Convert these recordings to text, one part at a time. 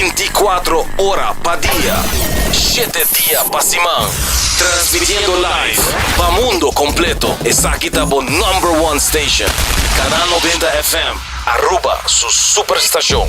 binti i kuatro ora pa dia, shete dia pa siman, transmitiendo live pa mundo completo. Esaki ta bo number one station, Canal Noventa FM, Aruba su superstacion.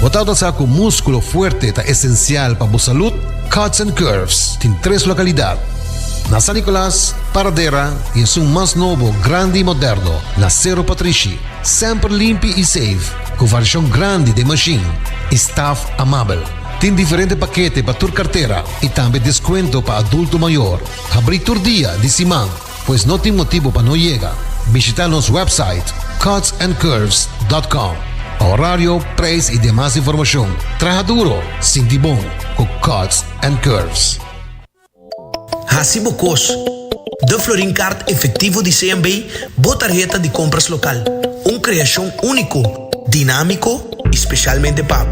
Bo ta nota cu musculo fuerte ta esencial pa bo salud? Cuts and Curves tin tres localidad, na San Nicolas, Paradera y esun mas nobo, grandi y moderno, na Cerro Patrishi. Semper limpi y safe, cu variacion grandi den machine y staff amabel. Tin diferente pakete pa tur cartera y tambe descuento pa adulto mayor. Habrí tur dia di siman. Pues no tin motibo pa no yega. Bishita nos website cutsandcurves.com pa horario, prijs y demas informacion. Traha duro, sinti bon cu Cuts and Curves. Haci bo cos! The Florin Kaart Efectivo di CMB, bo tarheta di compras local. Un creacion unico! dinámiko i spesialmente pa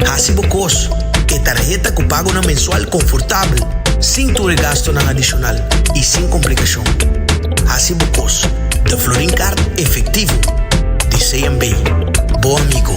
hasi bo kos ku e tarheta ku pagonan mensual konfortabel, sin tur e gastunan adishonal i sin komplikashon. Hasi bo kos The Florin Kaart efektivo di CMB, bo amigo!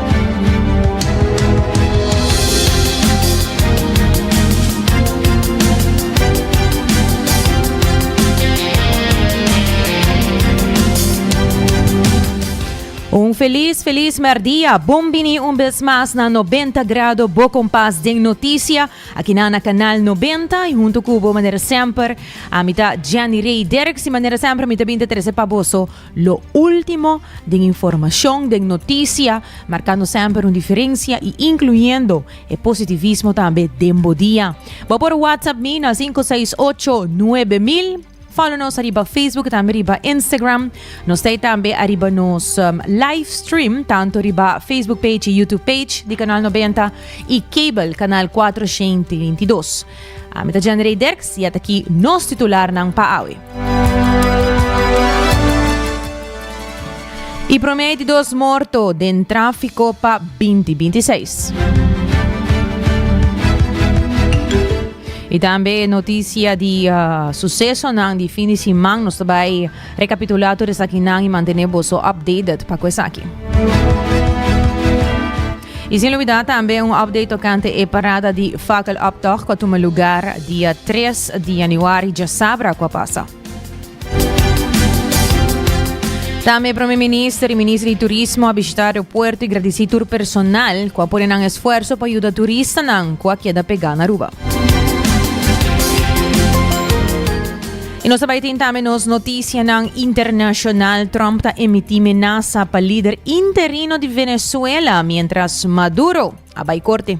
Un felis felis merdia, bon bini un bes mas na 90 grado bo kompas den notisia, akina na kanal 90 i huntu ku bo manera semper, ami ta Jenny Rey Derks i manera semper mi ta bin ta trese pa boso Lo ultimo den informacion, den noticia, marcando semper un diferencia y incluyendo e positivismo tambe den bo dia. Bo por WhatsApp mi na sinku seis ocho nuebe mil. Follow nos ariba Facebook tambe riba Instagram. Nos ta tambe ariba nos um, live stream tanto riba Facebook page y YouTube page di Canal 90 y cable Canal 422. A mi ta Jenry Derks y ataki nos titularnan pa awe. Y prome di dos morto den tráfico pa 2026. Y también noticia di uh, suceso nan di fin de semana. Nos bai recapitula todo esaki nan y mantener boso updated pa esaki. Y sin lubida tambe un update tocante e parada di Fakeloptocht cu a tuma lugar dia tres di januari djasabra cu a pasa. Tambe e Prome Minister y Minister di Turismo a bishita aeropuerto y gradisi tur personal cu a pone nan esfuerso pa yuda turistanan cu a keda pega na Aruba. I nos ta bai tin tambe nos noticianan internacional. Trump ta emiti menasa pa lider interino di Venezuela mientras Maduro a bai corte.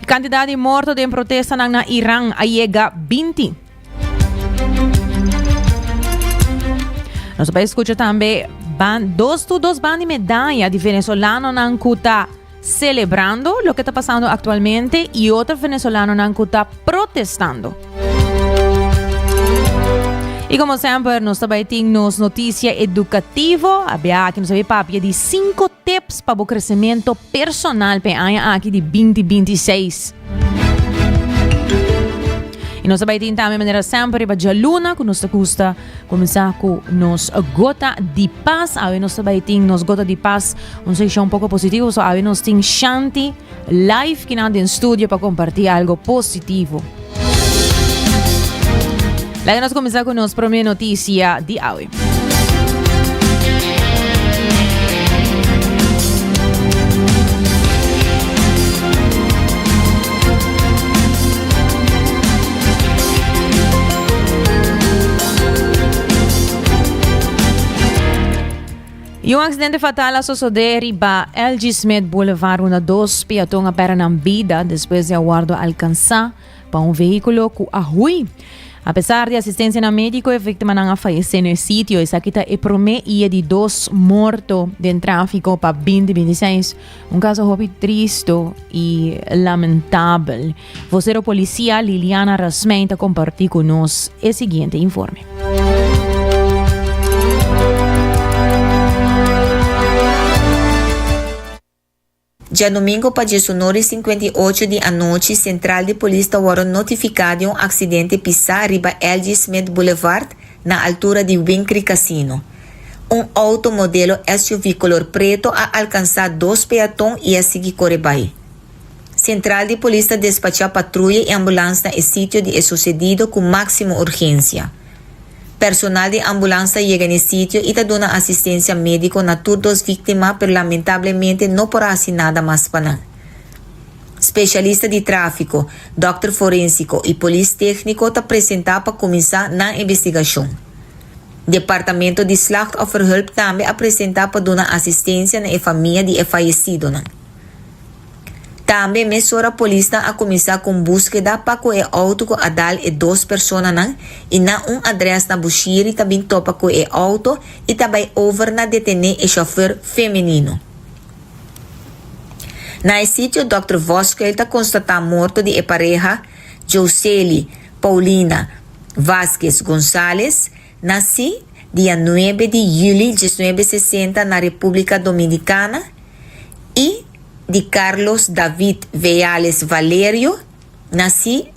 Cantidad di morto den protestanan na Iran a yega binti. Nos bai escucha tambe ban, dos tu dos ban di medaya di venezolanonan cu ta Celebrando loke ta pasando actualmente y otro venezolanonan cu ta protestando. Y como siempre, nos tabay tin nos noticia educativo. Abia aki nos abi papia di 5 tips pa bo crecimiento personal pe aña aki di 2026. Y nos tabay tin tambe manera siempre riba Luna cu nos ta gusta Comenzá cu nos gota di paz. Awe nos ta bay tin nos gota di paz. Un session un poco positivo. So awe nos tin Shanti live kinan den studio pa compartí algo positivo. Laga nos comenzá cu nos prome noticia di awe. Y un accidente fatal a sosode riba LG Smith Boulevard runda dos peaton a pera nan bida despues de a wordo alcansa pa un vehiculo cu a hui. A pesar di asistencia na medico e victimanan a fayece no e sitio. Esaki ta e prome ie di dos morto den trafico pa 2026. Un caso hopi tristo y lamentabel. Vocero policía Liliana Rasmein ta comparti cu nos e siguiente informe. Djadomingo pa djesunor y sinkwenta y ocho di anochi central di polis ta worde notifica di un accidente pisa riba LG Smith Boulevard na altura di Winkri Casino. Un auto modelo SUV color preto a alcansa dos peaton y a sigui core bay. Central di Polis ta despacha patruya y ambulans na e sitio di e sucedido cu maximo urgencia. Personal di ambulans ta yega n'e sitio y ta duna asistencia medico na tur dos victima pero lamentablemente no por a haci nada mas pa nan. Specialista di trafico, dokter forensico y polis tecnico ta presenta pa cuminsa nan investigacion. Departamento di Slachtofferhulp tambe a presenta pa duna asistensia na e famia di e fayesidonan. Tambe mesora polisnan a kuminsá ku un búskeda pa ku e outo ku a dal e dos personanan i na un adrès na Bushiri ta bin topa ku e outo i ta bai over na detené e shofèr femenino. Na e sitio Dòkter Voskuil ta konstatá morto di e pareha, Jouseli, Paulina, Vásquez González nací dia nuebe di juli diesnuebe sesenta na Repúblika Dominikana i di Carlos David Veales Valerio nací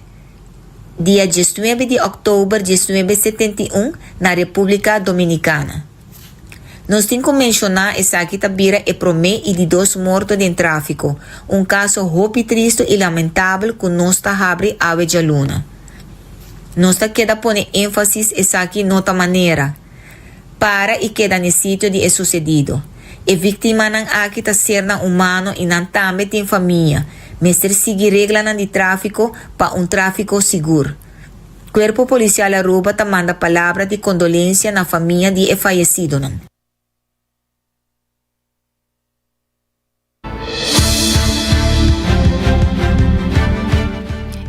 dia diesnuebe di òktober diesnuebe setenta i un na Repúblika Dominikana. Nos tin cu mencioná esaki ta bira e prome y di dos morto den trafico, un caso hopi tristo y lamentabel cu nos ta habri awe djaluna. Nos ta keda pone enfasis esaki no ta manera. Para y keda n'e sitio di e sucedido. E victimanan aki ta sernan humano y nan tambe tin famia, mester sigui reglanan di trafico pa un trafico sigur. Cuerpo Policial Aruba ta manda palabra di condolencia na famia di e fayecidonan.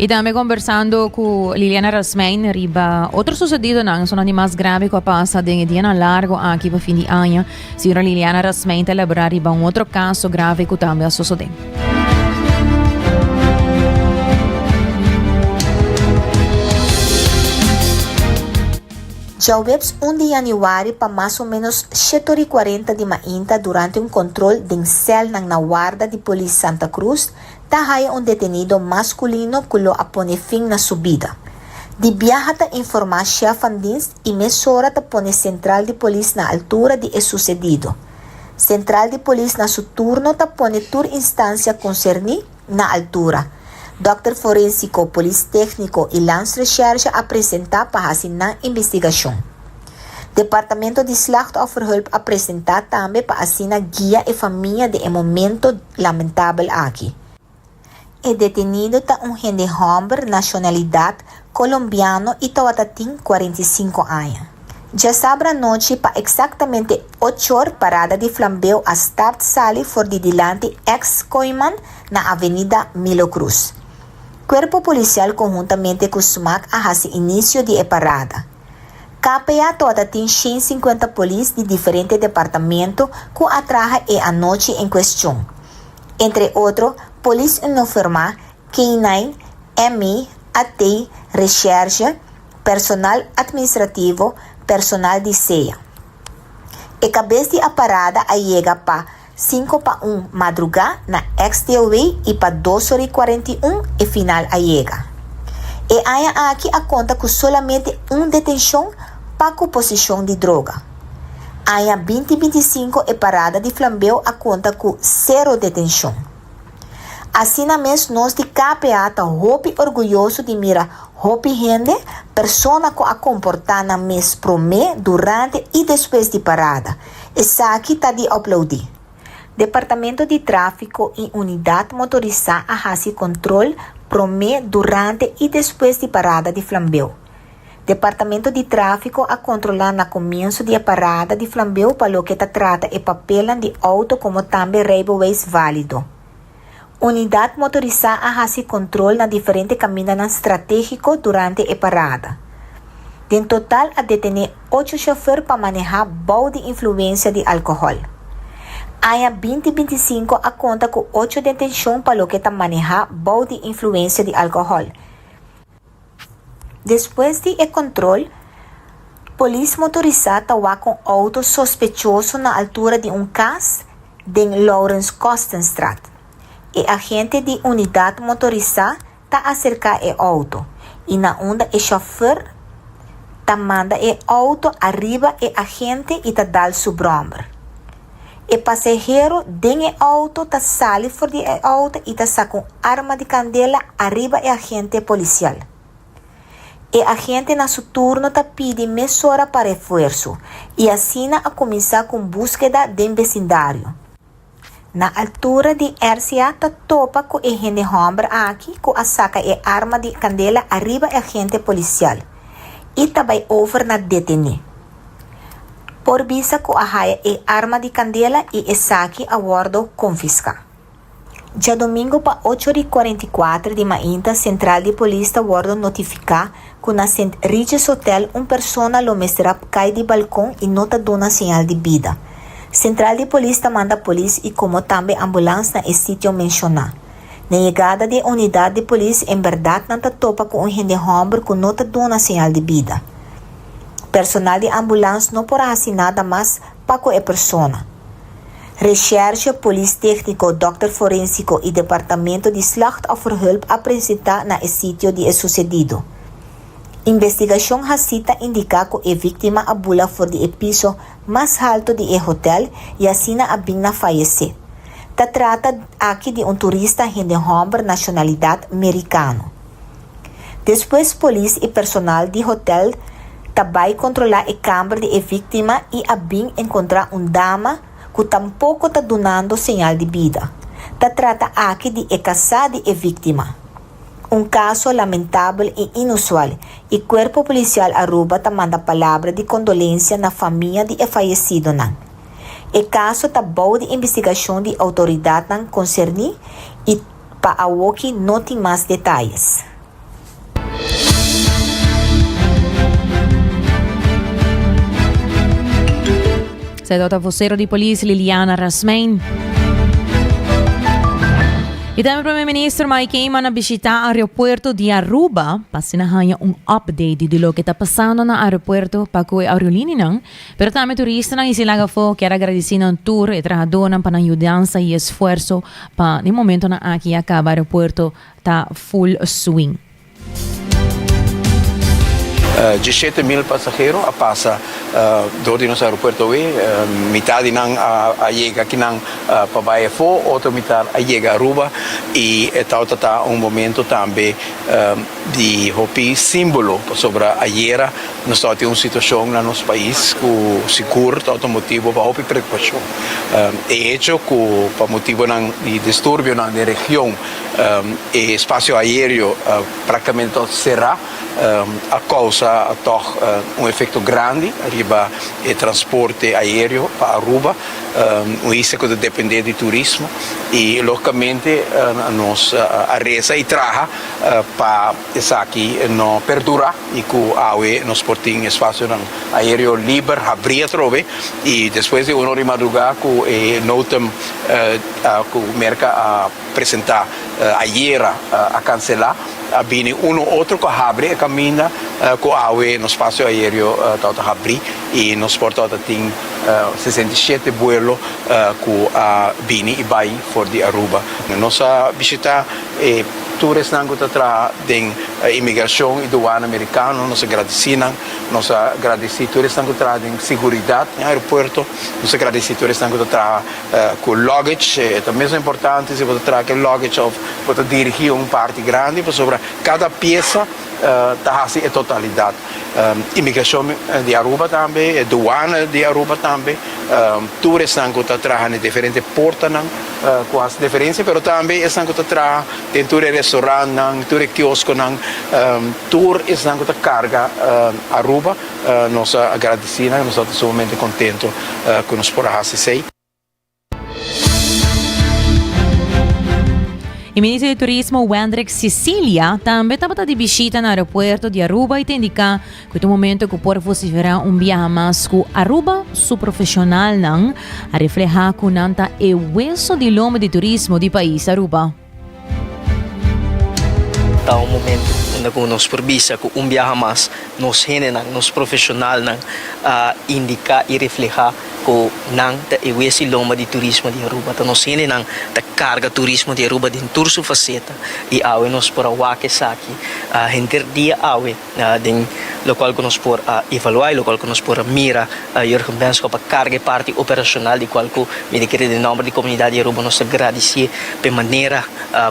Y tambe conversando cu Liliana Rasmijn riba otro sucedidonan, esonandimas grave cu a pasa den e dianan largo aki pa fin di aña. Señora Liliana Rasmein ta labra riba un otro caso grave cu tambe a sosode. Djaweps un di yanüari pa mas o ménos shete ora i kuarenta di mainta durante un kòntròl den sèlnan na warda di polis Santa Cruz ta haya un detenido maskulino ku lo a pone fin na su bida. Di biaha ta informá shèf van dienst i mesora ta pone sentral di polis na altura di e susedido. Sentral di polis na su turno ta pone tur instansia konserní na altura. Dòkter forensiko, polis tékniko i Landsrecherche a presentá pa hasi nan investigashon. Departamento di Slachtofferhulp a presentá tambe pa asina guia e famia den e momento lamentabel aki. E detenido ta un hende hòmber nashonalidat kolombiano i tawata tin kuarenta i sinku aña. Djasabra anochi pa eksaktamente ochor parada di flambeo a start sali for di dilanti eks Coiman na Avenida Milo Cruz. Kuerpo Polisial konhuntamente ku Smac a hasi inisio di e parada. KPA tawata tin shen sinkuenta polis di diferente departamento ku a traha e anochi en kuestion. Entre otro, polis unoformá, K-nine, ME, AT, resherge, personal atminstrativo, personal di sea. E kabes di a parada a yega pa sinku pa un madrugá na X-Deelway i pa dos ora i kuarenta i un e final a yega. E aña aki a konta ku solamente un detenshon pa ku poseshon di droga. Aña binti binti sinku e parada di flambeu a konta ku sero detenshon. Asina mes nos di KPA ta hopi orguyoso di mira hopi hende, persona ku a komportá nan mes promé, durante i despues di parada. Esaki ta di oplaudí. Departamento di Tráfiko i Unidat Motorisá a hasi kontrol promé, durante i despues di parada di flambeu. Departamento di Tráfiko a kontrolá na komienso di e parada di flambeu pa loke ta trata e papelnan di outo komo tambe rijbewijs válido. Unidat motorisá a hasi kontrol na diferente kamindanan stratégiko durante e parada. Den total a detené ocho shofèr pa manehá bou di influensia di alkohòl. Aña binti binti sinku a konta ku ocho detenshon pa loke ta manehá bou di influensia di alkohòl. Despues di e control, polis motorisa ta wak un auto sospechoso na altura di un cas den Laurens Kostenstraat. E agente di unidad motorisa ta acerca e auto y na unda e chauffeur ta manda e auto ariba e agente y ta dal su bromber. E pasahero den e outo ta sali for di e outo y ta saca un arma di candela ariba e agente policial. E agente na su turno ta pidi mesora pa refuerzo y asina a cuminsa cu un busqueda den becindario. Na altura di RCA ta topa cu e hende homber aki cu a saca e arma di candela ariba e agente policial y ta bay over na detene. por bisa cu a haya e arma di candela y esaki a wordo confisca. Djadomingo pa ocho ori cuarenta y cuatro di mainta central di polis ta wordo notifica cu na St. Regis Hotel un persona lo mester a cay di balcon y no ta duna señal di bida. Central di polis ta manda polis y como tambe ambulance na e sitio menciona. Na yegada di e unidad di polis en berdad nan ta topa cu un hende homber cu no ta duna señal di bida. Personal di ambulans no por a hasi nada mas pa ku e persona. Reshershe, polis tékniko, dòkter forensiko i departamento di slachtofferhulp a presentá na e sitio di e susedido. Investigashon hasí ta indiká ku e víktima a bula for di e piso mas haltu di e hotèl i asina a bin na fayesé. Ta trata aki di un turista hende hòmber nashonalidat merikano. Despues polis i personal di hotel ta bai kontrolá e kamber di e víktima i a bin enkontrá un dama ku tampoko ta dunando señal di bida. Ta trata aki di e kasá di e víktima. Un kaso lamentabel i inusual i Kuerpo Polisial Aruba ta manda palabra di kondolensia na famia di e fayesidonan. E kaso ta bou di investigashon di outoridatnan konserní i. Pa awoki no tin mas detayes. Esei tabata vocero di polis Liliana Rasmein. I tambe Prome Minister Mike Eman a bishita aeropuerto di Aruba pa asina haña un update di loke ta pasando na aeropuerto pa cu e aerolineanan Pero tambe turistanan y sin laga fo kier a gradeci nan tur e trahadonan pa nan yudansa y esfuerso pa den momentonan aki ya caba aeropuerto ta full swing. Dieschete mil pasahero a pasa door di nos aeropuerto awe, mitad di nan a yega aki nan pa bay afo, otro mitad a yega Aruba y e tawata ta un momento tambe di hopi simbolo pasobra ayera, Nos ta tin un situacion na nos pais cu sigur ta otro motibo pa hopi preocupacion. E hecho cu pa motibonan di disturbionan den region e espacio aereo practicamente ta otro cera a causa toch un efecto grandi riba e transporte aereo pa Aruba, un isla cu ta depende di turismo y logicamente nos a reza y traha pa. Esaki no perdura y cu awe nos por tin espacionan aereo liber habri atrobe y despues di uno di madruga cu e notem cu Merca a presenta ayera a cancela a bini uno otro cu a habri e caminda cu awe nos spacio aereo tawata habri y nos por tawata tin sesenta i shete buelo cu a bini y bay for di Aruba. Nos a bishita E tur esnan ku ta traha den imigrashon i duwana merikano, nos a gradisí nan. Nos a gradisí tur esnan ku ta traha den siguridat den aeropuerto. Nos a gradisí tur esnan ku ta traha ku lògage. E ta mesun importante si bo ta traha ku e lògage òf bo ta dirigí un parti grandi pasobra kada piesa. ta hasi e totalidat imigrashon di Aruba tambe, e duana di Aruba tambe, tur esnan ku ta traha na e diferente portanan ku hasi diferensia, pero tambe esnan ku ta traha den tur e restorantnan, tur e kioskonan, tur esnan ku ta karga Aruba, nos a gradisí nan, nos a ta sumamente kontentu ku nos por a hasi esei. E ministro di Turismo Wendrick Sicilia tambe tabata di bishita na aeropuerto di Aruba y ta indica cu ta un momento cu por vocifera un biaha mas cu Aruba su profesionalnan a refleha cu nan ta e hueso di lombe di turismo di pais Aruba. Ta un momentu unda ku nos por bisa ku un biaha mas nos hendenan, nos profeshonalnan a indiká i reflehá ku nan ta e wes i lomba di turismo di Aruba. Ta nos hendenan ta karga turismo di Aruba den tur su faseta i awe nos por a wak esaki henter dia awe. den lokual ku nos por a evaluá i lokual ku nos por a mira Jurgen Benschop a karga e parti operashonal di kual ku mi ta kere den nòmber di komunidat di Aruba nos ta gradisié p'e manera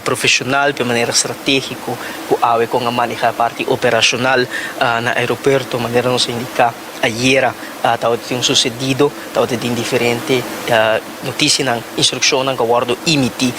profeshonal, p'e manera stratégiko ku awe kon a manehá e parti operashonal na aeropuerto manera nos a indiká ayera tabata tin un susedido tabata tin diferente. Notisianan, instrukshonnan ku a wòrdu imití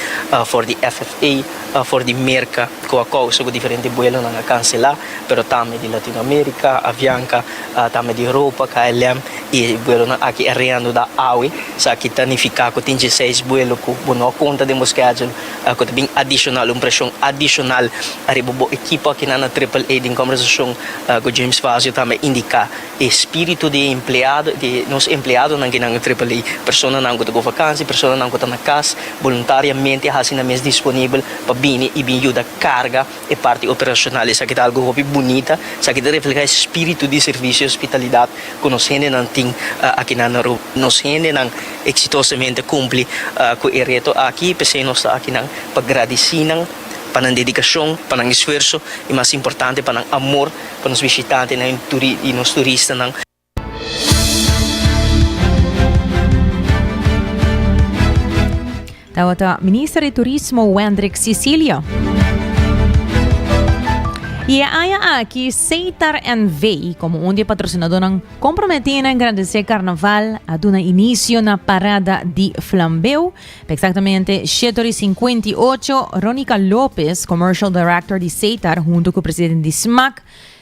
for di FFA, for di Merka, ku a kousa ku diferente buelonan a kanselá, pero tambe di Latinoamerika, Avianca, tambe di Europa, KLM, i buelonan aki a reanuda awe. So aki ta nifiká ku tin dieseis buelo ku bo no a konta den bo skèdul, ku ta bin adishonal, un preshon adishonal ariba bo ekipo. Akinan na Triple A, den kòmbersashon ku James Fazio tambe indiká. E spiritu di empleado di nos empleadonan kinan e tripel A, personanan ku ta go vakansi, personanan ku ta na kas boluntariamente a hasi nan mes disponibel pa bini i bin yuda karga e parti operashonal. Esaki ta algu hopi bunita, esaki ta reflehá e spiritu di servisio i ospitalidat ku nos hendenan tin aki na Aruba. Nos hendenan eksitosamente kumpli ku e reto aki, p'esei nos ta akinan pa gradisinan pa nan dedikashon, pa nan esfuerso i mas importante pa nan amor Pa nos bishitantenan i turi i nos turistanan. Tabata Minister di Turismo Wendrick Cicilio. Y e aña aki, Seitar NV, como un de patrocinadornan comprometí na engrandecé carnaval, a duna inicio na parada di flambeu, Pa exactamente shete ora y cincuenta y ocho, Ronica Lopez, Commercial Director di Setar, hunto cu presidente di Smac,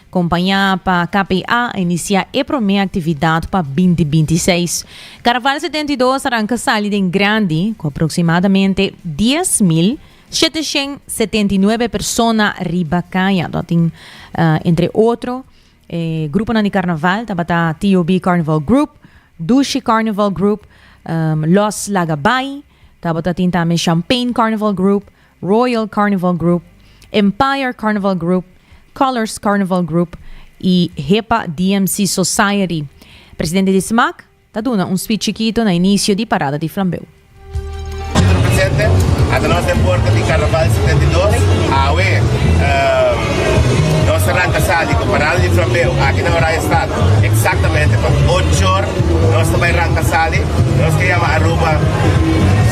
compaña pa KPA, a inicia e prome actividad pa binti binti seis. Carnaval setenta y dos a ranca sali den grandi, cu aproximadamente dies mil sheteshen setenta y nuebe persona riba caya, ta tin, entre otro, E gruponan di karnaval tabata TOB Carnival Group, Dushi Carnival Group, Los Lagabay, tabata tin tambe Champagne Carnival Group, Royal Carnival Group, Empire Carnival Group, Colors Carnival Group y Hepa DMC Society. Presidente di smaak, Ta duna un speech chikito na inicio di parada di flambeu. Minister Presidente, ata nos den puerta di Carnaval setenta i dos, awe nos a ranta sali cu parada di flambeu aki na Oranje Stad, exactamente pa ochor nos ta bay ranta sali, nos ta yama Aruba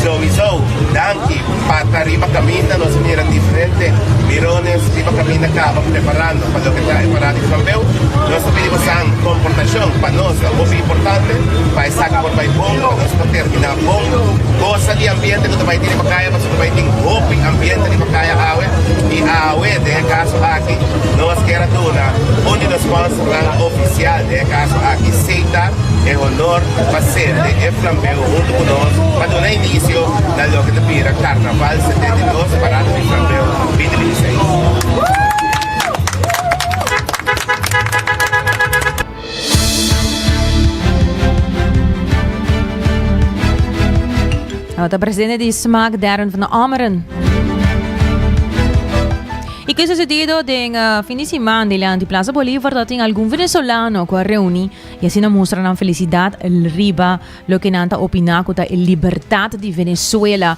souiso danki pa ta riba caminda, nos a mira diferente mirones riba caminda caba preparando. Loke ta e parada di Trofeu, nos ta pidi pasan komportashon. Pa nos ta hopi importante pa esaki por bai bon, pa nos por terminá bon. Gosa di ambiente ku ta bai tene Pacaya pasobra ta bai tin hopi ambiente di Pacaya awe. I awe den e kaso aki nos kier a duna un di nos sponsornan ofisial, den e kaso aki Seta, e honor pa sende e Flambeu huntu ku nos pa duna inisio na loke ta bira Karnaval setenta i dos, Parada di Flambeu binti binti seis. Nou ta presente di smaak Darren van Ameren. Y que sucedido den uh, fin de semana de la Plaza Bolívar dat tin algún venezolano que reuni y así na mostra nan felicidad riba lo que nan ta opina que ta el libertad de Venezuela.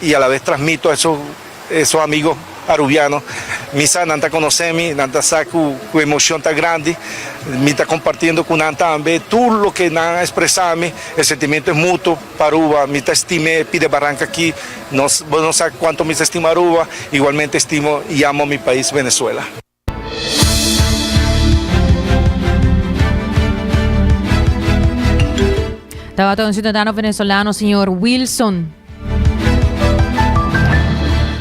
y alabes transmito a esun esun amigo Arubiano mi sa nan ta conoce mi nan ta sa cu cu emocion ta grandi mi ta compartiendo cu nan tambe tur loke nan a expresa mi e sentimento es mutuo pa Aruba mi ta estime pide barranca aki nos bo no sa cuanto mi ta estima Aruba igualmente estimo y amo mi pais Venezuela. Tabata un ciudadano venezolano señor Wilson.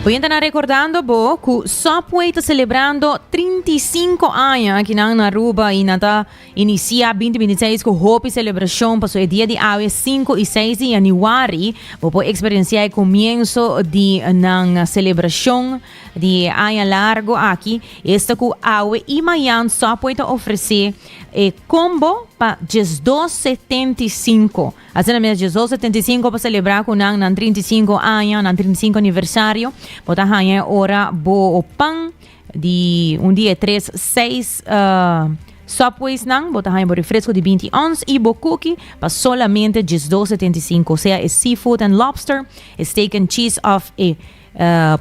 Oyente na recordando bo cu Subway ta celebrando 35 años aquí na Aruba y na ta inicia 2026 cu hopi celebracion paso e dia di awe 5 y 6 di januari bo por experiencia e comienzo di nan celebracion Di aña largo aki, esta cu awe y mayan Subway ta ofrece e combo pa diesdos setenta y cinco. Asina mes diesdos setenta y cinco pa celebra cu nan nan trinta y cinco aña, nan trinta y cinco aniversario. Bo ta haña e ora bo pan di un di e tres seis eh, Subways nan. Bo ta haña bo refresco di binti ons y bo cookie pa solamente diesdos setenta y cinco. Sea e seafood and lobster, e steak and cheese of e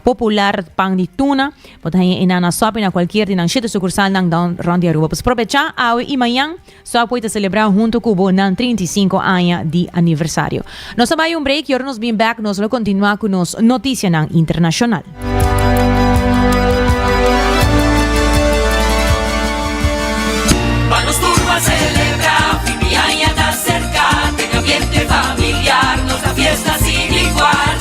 popular pan di tuna. Bo ta haña enan na Subway, na cualkier di nan siete sucursalnan dan rond di Aruba. Pues probecha awe i mañan Subway ta celebra hunto cu bo nan trinta i sinku aña di aniversario. Nos ta bay un break y ora nos bin bek nos lo continua cu nos noticianan internacional. Pa nos tur pa celebra, fin di aña ta cerca, ten ambiente familiar, nos ta fiesta sin igual.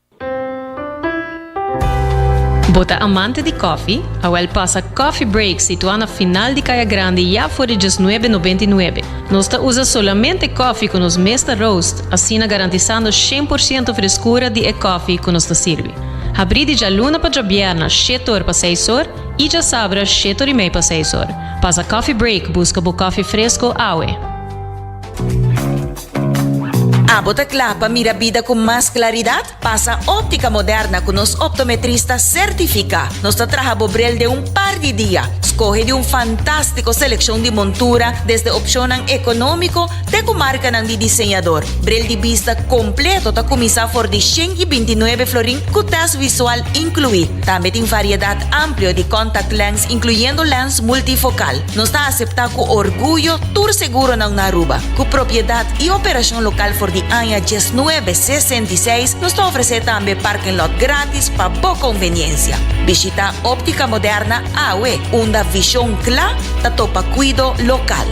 Bo ta amante di kòfi? Awèl pasa Coffee Break situá na final di Kaya Grandi ya for di djes nuebe nobenta i nuebe. Nos ta usa solamente kòfi ku nos mes ta roast, asina garantisando shen por siento freskura di e kòfi ku nos ta sirbi. Habrí di djaluna pa djabièrna shete or pa seis or i djasabra shete or i mei pa seis or. Pasa Coffee Break buska bo kòfi fresko awe! Abo ta kla pa mira bida ku mas klaridat? Pasa Óptica Moderna ku nos optometrista sertifiká. Nos ta traha bo brel den un par di dia. Skohe di un fantástiko selekshon di montura, desde opshonnan ekonómiko te ku markanan di diseñador. Brel di bista kompleto ta kuminsá for di shen i binti nuebe florin ku tèst visual inkluí. Tambe tin variedat amplio di contact lens, inkluyendo lens multifokal. Nos ta aseptá ku orguyo tur seguronan na Aruba. Ku propiedat i operashon lokal for di aña dies nuebe sesenta i seis, nos ta ofresé tambe parking lot gratis pa bo konveniensia. Bishitá Óptica Moderna awe, unda vishon kla ta topa kuido lokal.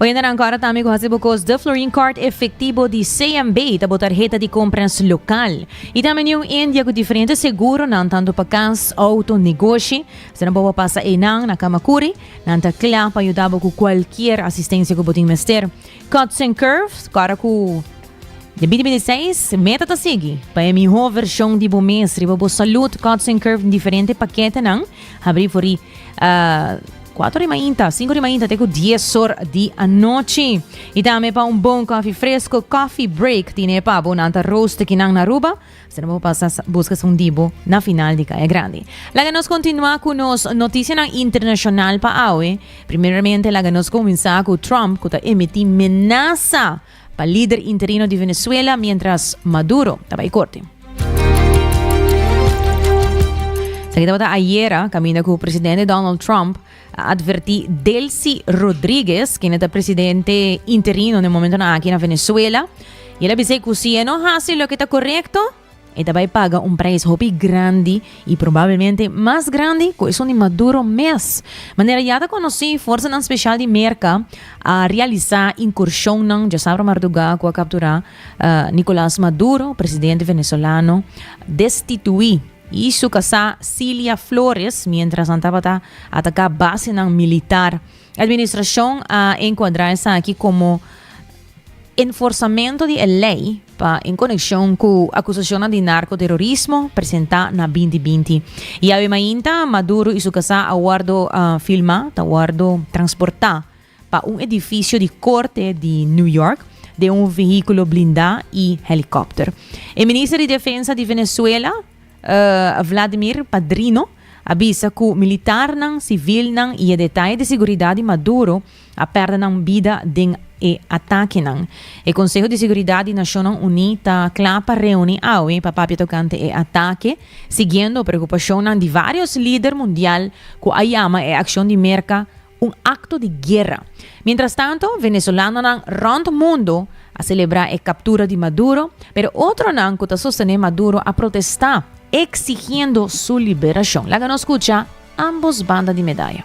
Oyendenan ku aratami ku hasi bo kos de Florin Kart Efektibo di CMB ta bo tarheta di kompras lokal. I ta meniu un dia ku diferente seguronan tantu pa kas, outo, negoshi. Si nan por pa pasa einan na Kamakuri, nan ta kla pa yuda bo ku kualkier asistensia ku bo tin mester. Cuts and Curves, ku ara ku Den binti binti seis, meta ta sigui pa e mihó vershon di bo mes riba bo salud. Cuts and Curves diferente paketenan habrí for i. kuater di mainta, sinku di mainta te ku dies or di anochi. I tambe pa un bon kofi fresko, coffee break, tine pa bo nan ta roast kinan na Aruba, si no bo pasa buska esun di bo na final di Kaya Grandi. Laga nos kontinua ku nos notisianan internashonal pa awe. Primeramente laga nos kuminsá ku Trump ku ta emití menasa. Pa lider interino di Venezuela mientras Maduro ta bai korte. Esaki tabata ayera, kaminda ku presidente Donald Trump a advertí Delcy Rodríguez, kende ta presidente interino na e momentonan aki na Venezuela, i el a bis'é ku si e no hasi loke ta korekto, E ta bai paga un prijs hopi grandi i probablemente mas grandi ku esun di Maduro mes. Manera ya ta konosí, forsanan spesial di Merka a realisá inkurshonnan djasabra marduga ku a kapturá Nicolas Maduro, presidente venezolano destituí, i su kasá Cilia Flores miéntras nan tabata ataká basenan militar. Administrashon a enkuadrá esaki komo enforsamentu di e lei. pa en konekshon ku akusashonnan di narkoterorismo presentá na binti binti. I awe mainta Maduro i su kasá a wòrdu filmá, ta wòrdu transportá pa un edifisio di korte di New York den un vehíkulo blindá i helikòpter. E minister di Defensa di Venezuela, Vladimir Padrino a bisa ku militarnan, sivilnan i e detaye di siguridat di Maduro a pèrdè nan bida den e atakenan. E Konseho di Siguridat di Nashonnan Uní ta kla pa reuni awe pa papia tokante e atake, siguiendo preokupashonnan di vários lider mundial ku a yama e akshon di Merka un akto di guera. Mientrastanto, venezolanonan rònt mundu a selebrá e kaptura di Maduro, pero otronan ku ta sostené Maduro a protestá eksigiendo su liberashon. Laga nos skucha ambos banda di medaya.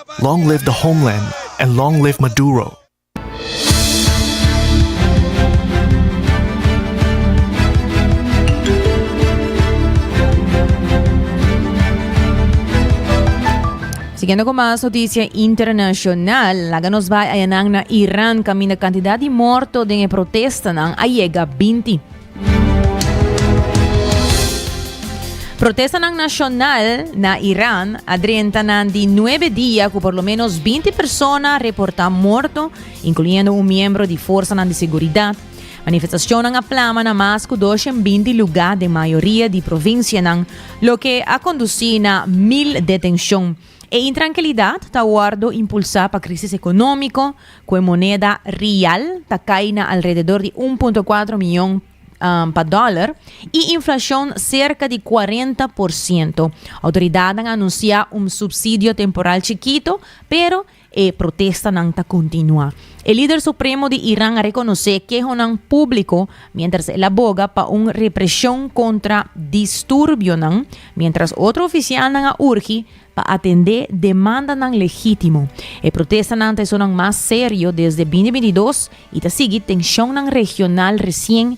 Long live the homeland and long live Maduro. Siguiendo cu mas noticia internacional, laga nos bai ayanan na Iran caminda cantidad di morto den e protestanan a yega binti. Protestanan nashonal na Iran a drenta nan di nuebe dia ku por lo menos binti persona reportá morto, inkluyendo un miembro di forsanan di seguridat. Manifestashonnan a plama na mas ku dos shen binti lugá den mayoria di provinsianan, loke a kondusí na mil detenshon. E intrankilidat ta wòrdu impulsá pa krísis ekonómiko, ku e moneda rial ta kai na alrededor di un punto kuater mion pa dòler i inflashon serka di kuarenta por siento. Outoridatnan a anunsiá un supsidio temporal chikitu, pero E protestanan ta kontinuá. E lider supremo di Iran a rekonosé kehonan públiko miéntras el a boga pa un represhon kontra disturbionan, miéntras otro ofisialnan a urgi pa atendé demandanan legítimo. E protestanan ta esonan mas serio desde bini binti dos i ta sigui tenshonnan regional resien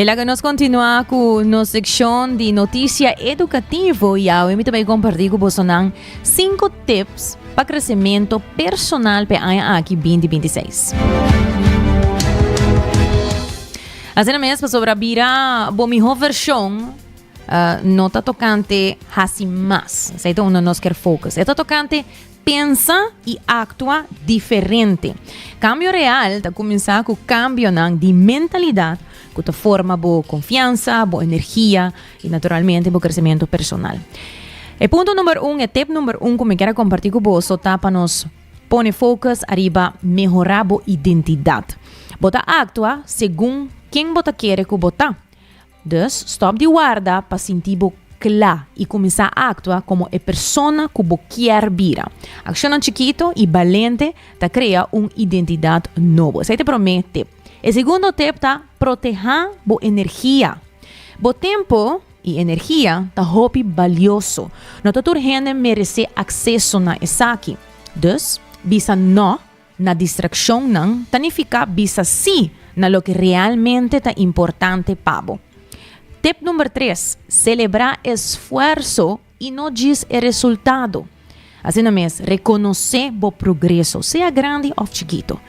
E laga nos continua cu nos seccion di noticia educativo y awe mi ta bay comparti cu bosonan 5 tips pa crecemento personal pe aña aki 2026. Asina mes, pasobra bira bo mihor version Uh, no ta tocante hasi mas. Sei ta uno nos ker focus. Eta tocante pensa y actua diferente. Cambio real ta comenzar cu cambio nan di mentalidad cu ta forma bo confianza, bo energia y naturalmente bo crecimiento personal. E punto number un, e tip number un cu me quiera compartir cu bo, so ta pa nos pone focus arriba mejora bo identidad. Bota actua segun quien bota quiere cu bota. Dus, stòp di warda pa sinti bo kla i kuminsá aktua komo e persona ku bo kier bira. Akshonnan chikitu i balente ta krea un identidat nobo. Esei ta e promé tip. E segundo tip ta protehá bo energia. Bo tempu i energia ta hopi balioso. No ta tur hende meresé akseso na esaki. Dus, bisa no. Na distraccionnan ta nifica bisa sí na loke realmente ta importante pa bo. Tip number tres, celebra esfuerzo y no djis e resultado. Asina mes, reconoce bo progreso, sea grandi of chikito.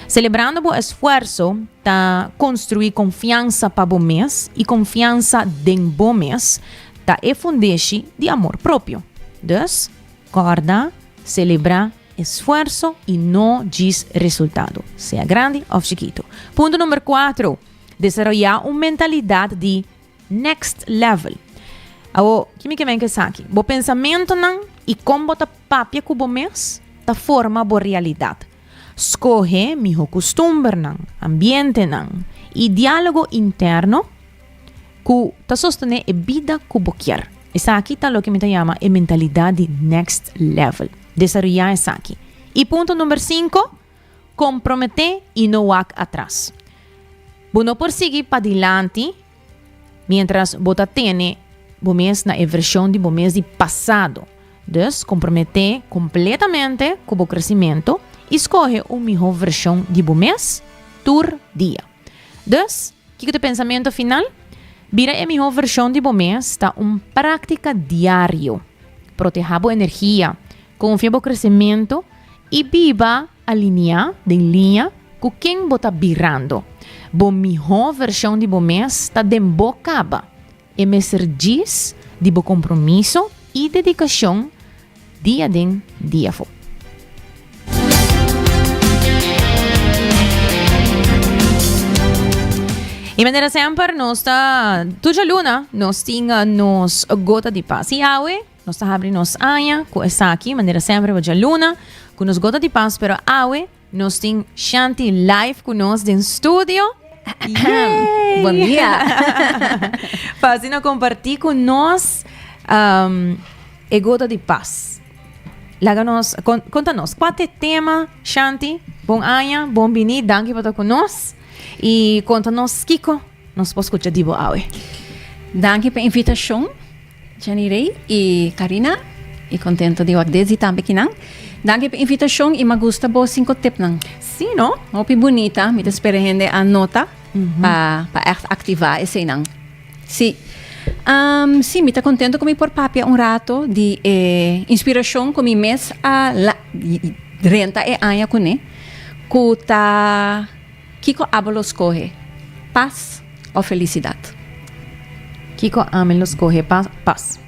Celebrando bo esfuerzo ta construi confiansa pa bo mes y confiansa den bo mes ta e fundeshi di amor propio. Dus, corda, celebra. Esfuerso y no djis resultado, sea grandi of chikito. Punto number cuatro, desaroya un mentalidad di next level. Awo, ki mi ke men ku esaki? Bo pensamentonan y kon bo ta papia ku bo mes ta forma bo realidad. Skohe miho kustumbernan, ambientenan y dialogo interno. ku ta sostené e bida ku bo kier. Esaki ta loke mi ta yama e mentalidat di next level. Desaroyá esaki. I punto number sinku, komprometé i no wak atras. Bo no por sigui padilanti miéntras bo ta tene bo mes na e vershon di bo mes di pasado. Dus, komprometé kompletamente ku bo kresimentu i skohe un mihó vershon di bo mes tur dia. Dus, kiko ta e pensamentu final? Bira e mihó vershon di bo mes ta un práktika diario. Protehá bo energia, konfia bo kresementu i biba alineá den liña ku ken bo ta birando. Bo mihó vershon di bo mes ta den bo kaba. E mester djis di bo compromiso y dedicacion dia den, dia fo. Y manera semper nos ta tur djaluna nos tin nos gota di pas. Y awe nos ta habri nos aña cu esaki manera semper bo djaluna cu nos gota di pas pero awe Nos tin Shanti live ku nos den studio. Buen dia. Pa asina kompartí ku nos um, e gota di pas. Laga nos, kon, konta nos, kwa te tema, Shanti? Bon aña, bon bini, danki pa ta ku nos. I konta nos kiko Nos por scucha di bo awe. Danki pa invitacion Jenny Rey y Carina y contento di wak dezi tambe ki nan. Danki pa invitacion y ma gusta bo cinco tip nan. Sí no, hopi bunita, mi ta spera hende a nota pa pa echt activa esey nan. Sí. Am, sí, mi ta contento cu mi por papia un rato di e inspiracion cu mi mes a la- drenta e aña cu ne, cu ta. Kiko abo lo skohe, pas òf felisidat? Kiko ami lo skohe, pas?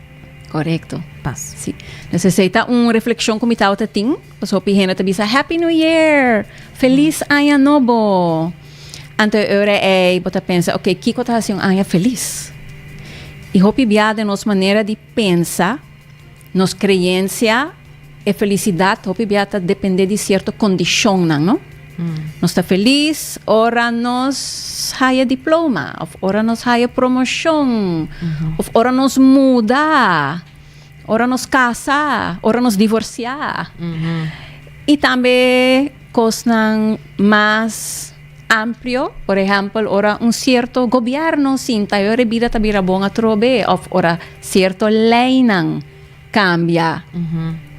Korekto. Pas. Sí. Nos esei ta un reflekshon ku mi tabata tin. Pas hopi hende ta bisa, Happy New Year! Felis aña nobo! Anto e ora ei bo ta pensa, Oke, kiko ta hasi un aña felis? I hopi bia den nos manera di. Pensa, Nos creencia e felicidad hopi bia ta depende di cierto condicionnan, no? Nos ta feliz ora nos haya diploma, of ora nos haya promocion, of ora nos muda, ora nos casa, ora nos divorcia. Y tambe. Cosnan mas amplio, por ehempel ora un cierto gobierno sinta y ora e bida ta bira bon atrobe of ora cierto leynan cambia.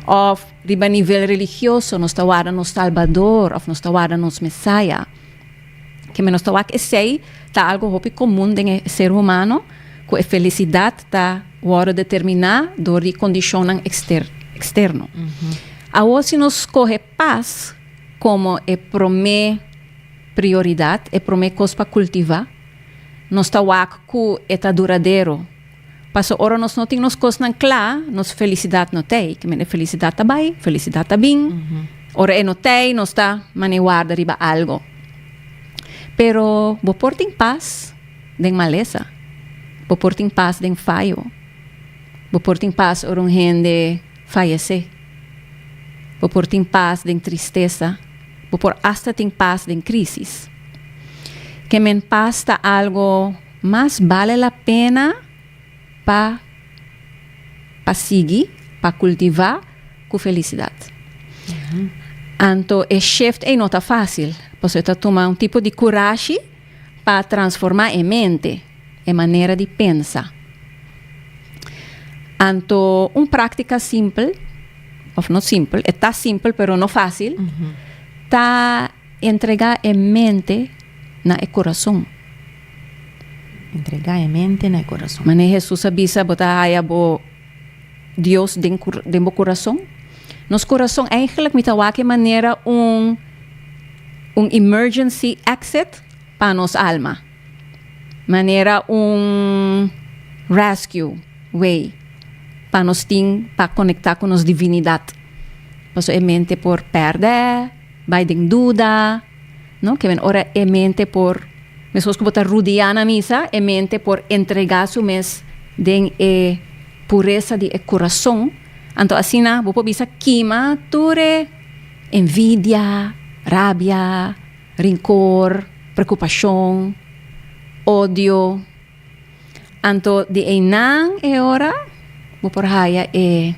Of riba nivel religioso nos ta warda nos Salbador of nos ta warda nos Mesaya. Keme nos ta wak esey ta algo hopi comun den e ser humano cu e felicidad ta wordo determina door di e condicionnan externo. Awor si nos coge. Pas komo e promé prioridat, e promé kos pa kultivá. Nos ta wak ku e ta duradero. Paso ora nos no tin nos kosnan kla, nos felisidat no tei. Ke mende felisidat ta bai, felisidat ta bin. Ora e no tei, nos ta mane warda riba algu. Pero bo por tin pas den malesa. Bo por tin pas den fayo. Bo por tin pas ora un hende fayesé. Bo por tin pas den tristesa, bo por asta tin pas den krísis. Kemen pas ta algo mas bale la pena pa pa sigui, pa kultivá ku felisidat. Anto e shift ei no ta fásil, pasobra ta tuma un tipo di kurashi. Pa transformá e mente, e manera di pensa. Anto un práktika simpel, òf no simpel, e ta simpel pero no fásil, ta entregá e mente na e kurason. Entregá e mente na e kurason. Manera Hesus a bisa, bo ta haya bo Dios den den bo corazon? Nos corazon eigenlijk mi ta wak e manera un un emergency exit pa nos alma, manera un rescue way pa nos tin pa conecta cu nos divinidad, pasobra e mente por perde. bai den duda, no? Ke men ora e mente por, mescos ku bo ta rudiá na misa, e mente por entregá su mes den e puresa di e kurason. Anto asina bo por bisa kima tur e envidia, rabia, rinkor, prekupashon, odio. Anto di einan e ora bo por haya e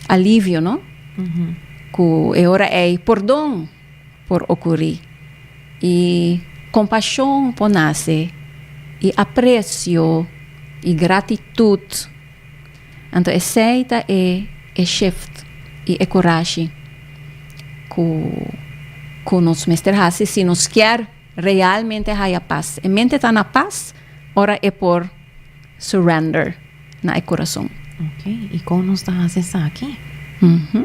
alivio, no? Mm -hmm. Ku e ora ei pordon por okuri. I kompashon por nase. I apresio i gratitut. Anto esei ta e e shift i e kurashi ku ku nos mester hasi si nos kier. Realmente haya pas. E mente ta na pas ora e por surrender na e curason. Ok, y con nos ta haci esaki? Mm hmm.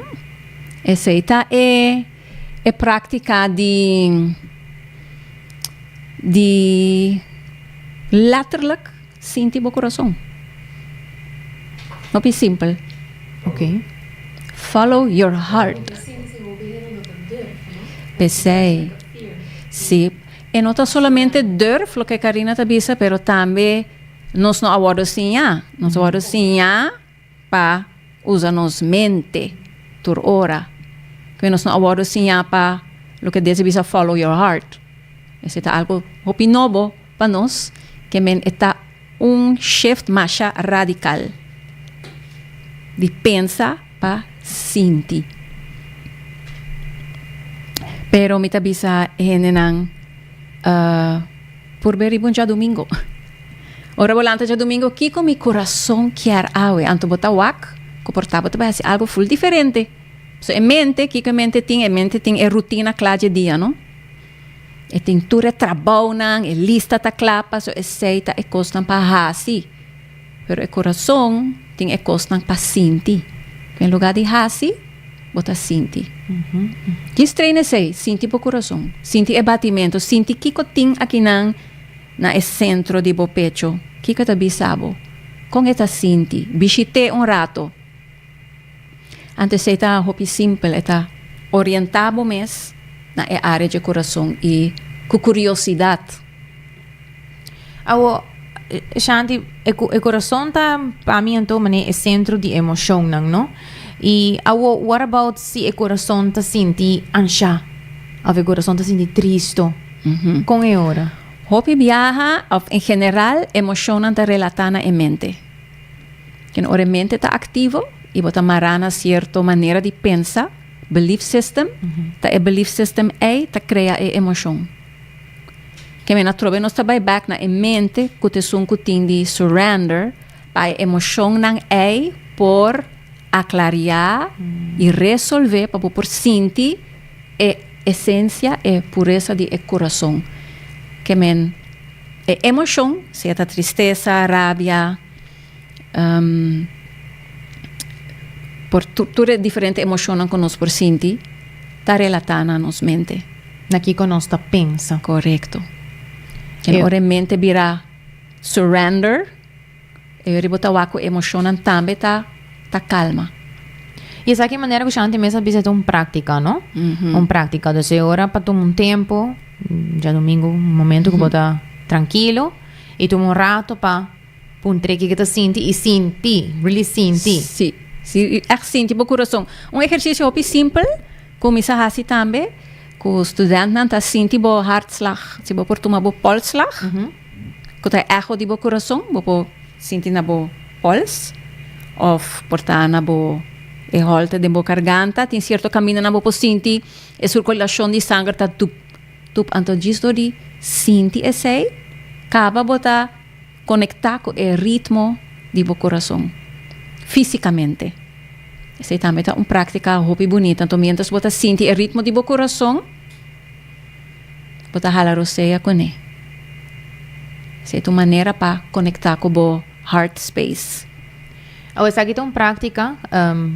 Esey ta e, e practica di, di letterlijk Sinti bo kurason. Hopi simpel, ok. Follow your heart. P'esei, si, e no ta solamente durf loke Karina ta bisa, pero tambe nos no a wòrdu siñá. Nos a wòrdu siñá pa usa nos mente tur ora. Koe nos no a wòrdu siñá pa loke Dios a bisa follow your heart. Esei ta algu hopi nobo pa nos, ke men e ta un shift masha radikal di pensa pa sinti. Pero mi ta bisa e hendenan. Por be riba un djadumingo. Ora bo lanta djadumingo, kiko mi kurason kier awe? Anto bo ta wak, ku por ta bo ta bai hasi algu ful diferente. So e mente, kiko e mente tin? E mente tin e rutina kla dje dia, no? E tin tur e trabounan, e lista ta kla, paso esei ta e kosnan pa hasi. Pero e corazon tin e cosnan pa sinti. En lugar di haci, bo ta sinti. Djis train esey, sinti bo corazon. Sinti e batimento. Sinti kico tin akinan na e centro di bo pecho. Kico ta bisa bo? Con e ta sinti? Bishite un rato. Antes ei ta hopi simpel, e ta orienta bo mes na e área dje kurason i ku kuriosidat. Awo, Shanti, e kurason ta pa mi anto manera e sentro di e emoshonnan, no? I awo, what about si e kurason ta sinti anshá òf e kurason ta sinti tristo? Kon e ora? Hopi biaha, òf en general, e emoshonnan ta relatá na e mente. Ken ora e mente ta aktivo i bo ta mará na sierto manera di pensa, belief system, ta e belief system ei ta krea e emoshon. Ke men atrobe nos ta bai bèk na e mente ku ta esun ku tin di surrender pa e emoshonnan ei por aklariá i resolvé pa bo por sinti. e esencia, e puresa di e curason, ke men e emocion, sea ta tristesa, rabia, por tur tur e diferente emocionnan cu nos por sinti, ta relata na nos mente. Na kico nos ta pensa. Corecto. Ora e mente bira surrender. E yori bo ta wak ku emoshonnan tambe ta ta kalma. I esaki e manera ku Shanti mes a bisa ta un práktika, no? Un práktika. Dus e ora pa tuma un tempu, diadomingu un momentu ku bo ta trankilo i tuma un rato pa puntr'é ke ke ta sinti i sinti, really sinti. Sí, sí, i ègt sinti bo kurason. Un ehersisio hopi simpel ku mi sa hasi tambe ku studentnan ta sinti bo hartslag, si bo por tuma bo polsslag. ku ta eho di bo kurason bo por sinti na bo pols òf por ta na bo e hòlte den bo karganta tin sierto kamindanan bo por sinti e surkulashon di sanger ta tup tup anto djis dor di sinti esei kaba bo ta konektá ku e ritmo di bo kurason físikamente esei tambe ta un práktika hopi bunita anto miéntras bo ta sinti e ritmo di bo kurason. bo ta hala rosea kuné. Esei ta un manera pa konektá ku bo heart space. Awe esaki ta un práktika,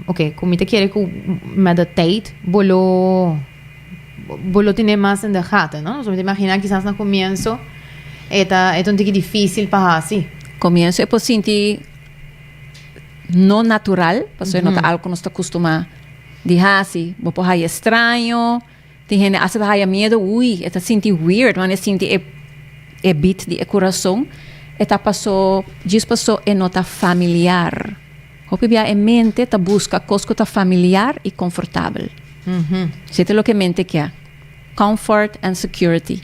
oke, ku mi ta kere ku met de teit bo lo bo lo tene mas in de gata, no? So mi ta imaginá kisas na komienso e ta e ta un tiki difísil pa hasi. Komienso e por sinti no natural, pasobra no ta algu ku nos ta kustumá di hasi. Bo por haña estraño. Tin hende asta ta haya miedu hui, e ta sinti weird wan e sinti e e beat di e kurason, e ta paso djis paso e no ta familiar. Hopi bia e mente ta buska kos ku ta familiar i konfortabel. Si ta loke e mente kia, comfort and security.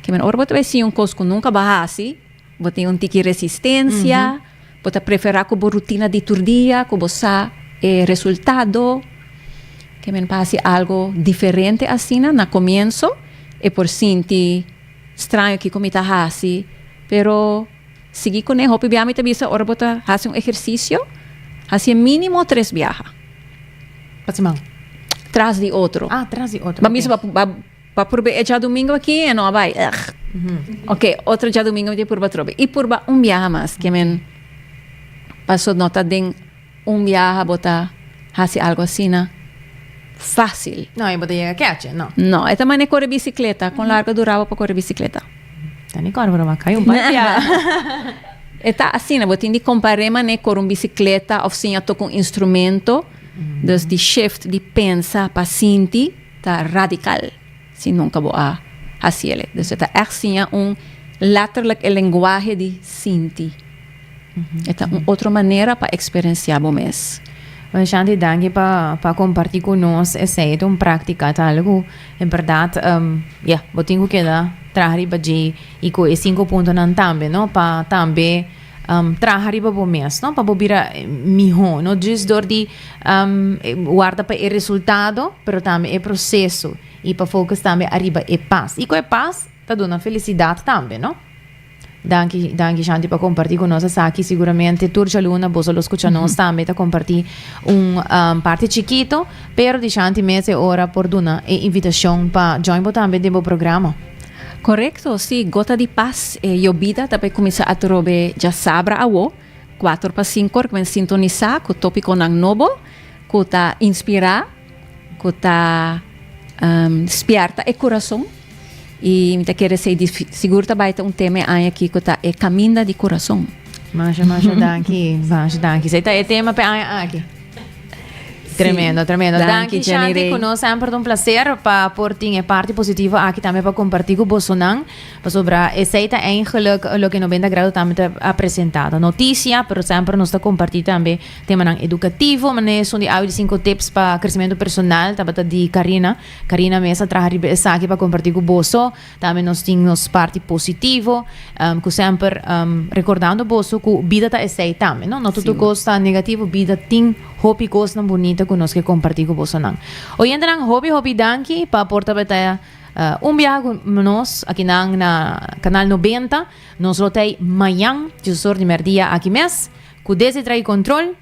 Ke men ora bo ta bai si un kos ku nunka bo a hasi, Bo tin un tiki resistensia, bo ta preferá ku bo rutina di tur dia ku bo sa e resultado, ke men pa hasi algu diferente asina. Na komienso e por sinti straño, kiko mi ta hasi? Pero sigui kuné, hopi biaha mi ta bisa ora bo ta hasi un ehersisio, hasié mínimo tres biaha. Pa siman? Tras di otro. Ah, tras di otro, ok. Ban bisa pa. Pa purbe e djadumingu aki e no a bai ugh ok otro djadumingu mi tin purba trobe y purba un biaha mas ke men paso no ta den un biaha bo ta hasi algo asina facil. No y bo ta yega keche no. No e ta mane kore bicicleta con largo duraba pa kore bicicleta. Ta ni kor broma kai un par di biaha. E ta asina bo tin di compare mane kor un bicicleta of siña toca un instrumento dus di shift di pensa pa sinti. Ta radical si nunca bo a haci ele. Dus e ta echt siña un letterlijk e lenguahe di sinti. E ta un otro manera pa experencia bo mes. Shanti danki pa comparti cu nos esey. Ta un practica tal cu e berdad ya bo tin cu keda traha riba dje y cu e cinco puntonan tambe no pa tambe. um, traha riba bo mes, no? Pa bo bira miho, no djis dor di um, warda pa e resultado, pero tambe e proceso. Y pa focus tambe arriba e paz. Y co e paz, ta duna felicidad tambe, no? Danki, danki Shanti pa comparti con nos asaki. Seguramente tur Jaluna, bosa los escucha nos tambe ta comparti un um, parte chiquito, pero di Shanti mes e ora por duna e invitacion pa join bo tambe den bo programa. Korekto, si, gota di pas, e yobida ta pe kuminsá a trobe dja sabra awo, kuater pa sinku ora ku men sintonisá ku topikonan nobo ku ta inspirá, ku ta spièrta e kurason. I mi ta kere sei di sigur ta bai ta un tema e aña aki ku ta e kaminda di kurason. Masha, masha danki, masha danki. Sei ta e tema p'e aña aki. Tremendo, tremendo. Danki, Shanti, ku nos semper un placer pa por tin e parti positivo aki tambe pa kompartí ku bosonan. Pasobra esei ta ein geluk loke Noventa Grado tambe ta a presentá. Ta notisia, pero semper nos ta kompartí tambe temanan edukativo, manera esun di awe di sinku tips pa kresementu personal tabata di Karina. Karina mes a traha riba esaki pa kompartí ku boso. Tambe nos tin nos parti positivo, ku semper rekordando boso ku bida ta esei tambe, no? No tutu kos ta negativo, bida tin hopi kosnan bunita ku nos ke kompartí ku bosonan. Oyentenan, hopi hopi danki pa por ta betaya un biaha ku nos akinan na Kanal Nobenta. Nos lo tei mañan, djusor di merdia aki mes, ku Desdi Tra'i Kontrol.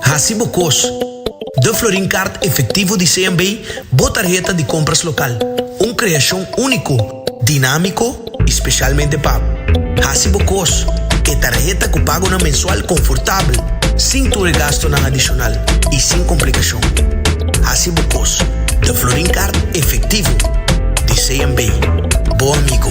Hasi bo kos. Da Florin Kart Efektivo di CNB bo tarheta di kompras lokal, un kreashon úniko, dinámiko i spesialmente pa Hasi bo kos, e tarheta ku pagonan mensual konfortabel, sin tur e gastunan adishonal i sin komplikashon. Hasi bo kos. Da Florin Kart Efektivo di CNB, bo amigo.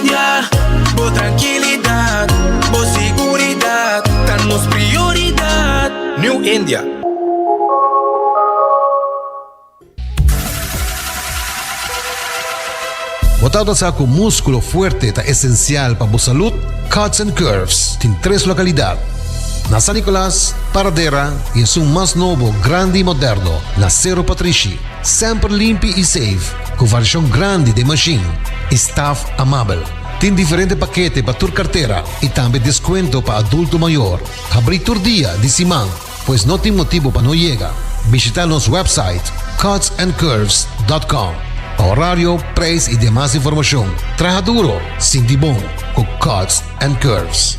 Ya, bo trankilidat, bo siguridat ta nos prioridat. New India. Bo ta ota sa ku múskulo fuerte ta esensial pa bo salud? Cuts and Curves tin tres lokalidat, na San Nicolas, Paradera i esun mas nobo, grandi i moderno, na Cerro Patrishi. Semper limpi i safe. Cu varishon grandi den machine y staff amabel. Tin diferente pakete pa tur kartera y tambe descuento pa adulto mayor. Habrí tur dia di siman, pues no tin motibo pa no yega. Bishita nos website cutsandcurves.com pa horario, prijs y demas informacion. Traha duro, sinti bon cu Cuts and Curves.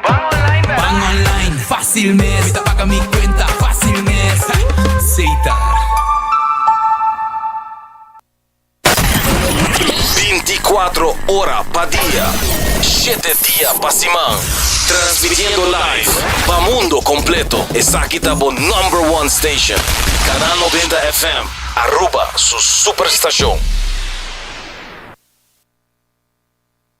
Ban online, Ban online, fácil mes. Mi ta paga mi cuenta, fácil mes. Seita. Binti kuatro ora pa dia, shete dia pa siman. Transmitiendo live pa mundo completo. Esaki ta bo number one station. Canal Noventa FM, Aruba su superstacion.